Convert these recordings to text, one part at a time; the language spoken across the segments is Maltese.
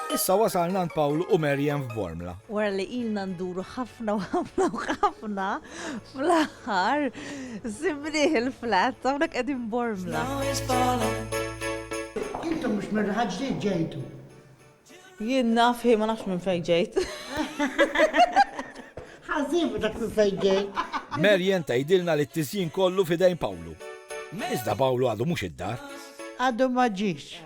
Issa wasalna għand Paul u Merjem f'Bormla. Wara li ilna nduru ħafna u ħafna u ħafna fl-aħħar simriħ il-flat hawnhekk qegħdin Bormla. Intom mhux minn ħaġġi ġejtu. Jien naf hi ma nafx minn fejn ġejt. Ħażibu dak minn fejn ġejt. Merjen tgħidilna li t-tisjin kollu fidejn Pawlu. Iżda Pawlu għadu mhux id-dar. Għadu ma ġiex.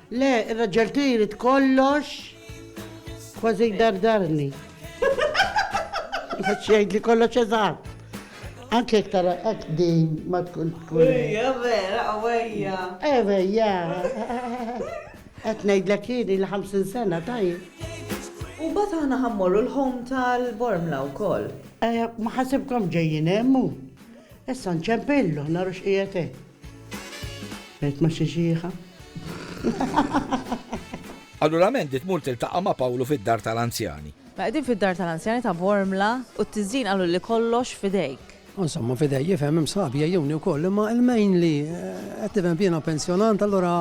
Le, ir-raġel tiegħi jrid kollox. Kważi jdardarni. Għax jgħid li kollox eżatt. Anke jekk tara hekk din ma tkun tkun. Ejja, vera, għawejja. Ewejja. Qed ngħidlek jieni li 50 sena tajjeb. U mbagħad aħna ħammorru l-home tal-Bormla wkoll. Eh, Ma ħasibkom ġejjin hemm hu. Issa nċempillu, naru x'qiegħed hemm. B'għid ma' xi xiħa. Allura Mandy tmur tiltaqa' ma' Pawlu fid-dar tal-anzjani. Mela qegħdin fid-dar tal-anzjani ta' Bormla u t-tiżjin qalulli kollox f'idejk. Insomma f'idejja, ifhem, hemm sħabi jgħejjuni wkoll imma il-main li qed nifhem jiena pensjonant allura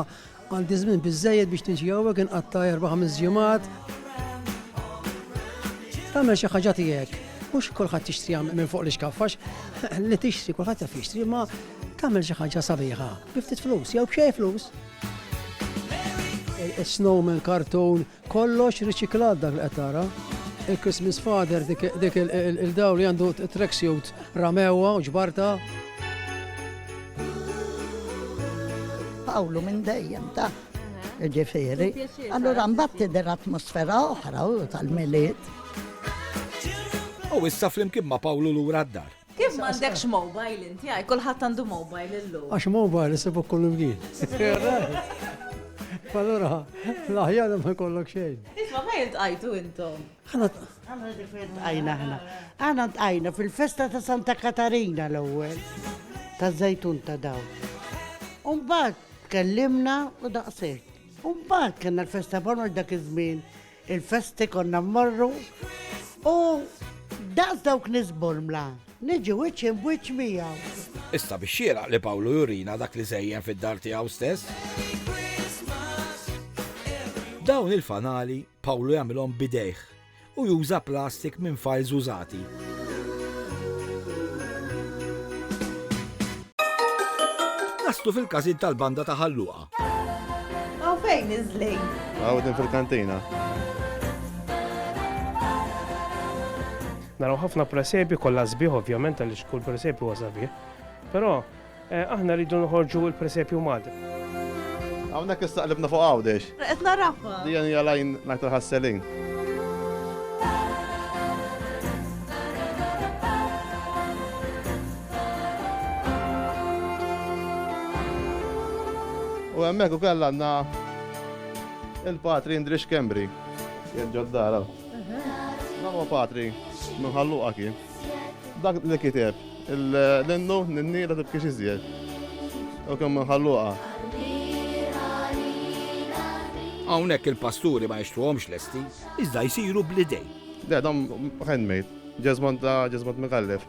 Għandi żmien biżżejjed biex niġi hawnhekk inqatta' erba' ħames ġimgħat. Tagħmel xi ħaġa tiegħek. Mhux kulħadd jixtri hawn minn fuq l-ixkaff għax li tixtri kulħadd jaf jixtri imma tagħmel xi ħaġa sabiħa. Bi ftit flus jew b'xejn flus. Snowman, kartun, Kollox riċiklat dak li qed tara. Il-Christmas Father dik dik il-dawl li għandu track suit ramewha u ġbarta. Pawlu minn dejjem ta' ġifieri. Allura mbagħad tidher atmosfera oħra u tal-milied. U issa flimkien ma' Pawlu lura d-dar. Kif m'għandekx mobile inti għaj? Kulħadd għandu mobile illum. Għax mobile isibuk kull imkien. Allura, l-aħjar ma jkollok xejn. Isma ma jintqajtu intom. Għana tqajna ħna. Għana tqajna fil-festa ta' Santa Katarina l-ewwel. Ta' zajtun ta' daw. Umbat kellimna u daqsek. Umbat kena l-festa bonor dak iż-żmien. Il-festi konna mmorru u daqs dawk nies bormla niġi wiċċ imb wiċċ miegħu. Issa bix-xieraq li Pawlu jurina dak li żejjen fid-dar tiegħu stess. Dawn il-fanali Pawlu jagħmilhom b'idejh u juża plastik minn fajls użati. Naslu fil-każin tal-banda ta' Ħalluqa. Hawn fejn iż-żlejn? Hawn din fil-kantina. Naraw ħafna presepi kollha sbieħ ovvjament għaliex kull presepi huwa sabiħ. Però eh, aħna rridu noħorġu l-presepju Malti. Hawnhekk istaqlibna fuq għawdex. Qed narafha. Dija hija lajn ngħid ħasselin. U hemmhekk ukoll għandna il-Patri Indri Xkembri. Jerġa' d-dara. Dan huwa patri minn ħalluqa kien. Dak li kiteb l-innu n-nira tibkiex iżjed. U kemm minn ħalluqa. Hawnhekk il-pasturi ma jixtruhomx lesti, iżda jsiru bl-idejn. Le, dan handmade. Ġeżmant ta' ġeżmant mikallef.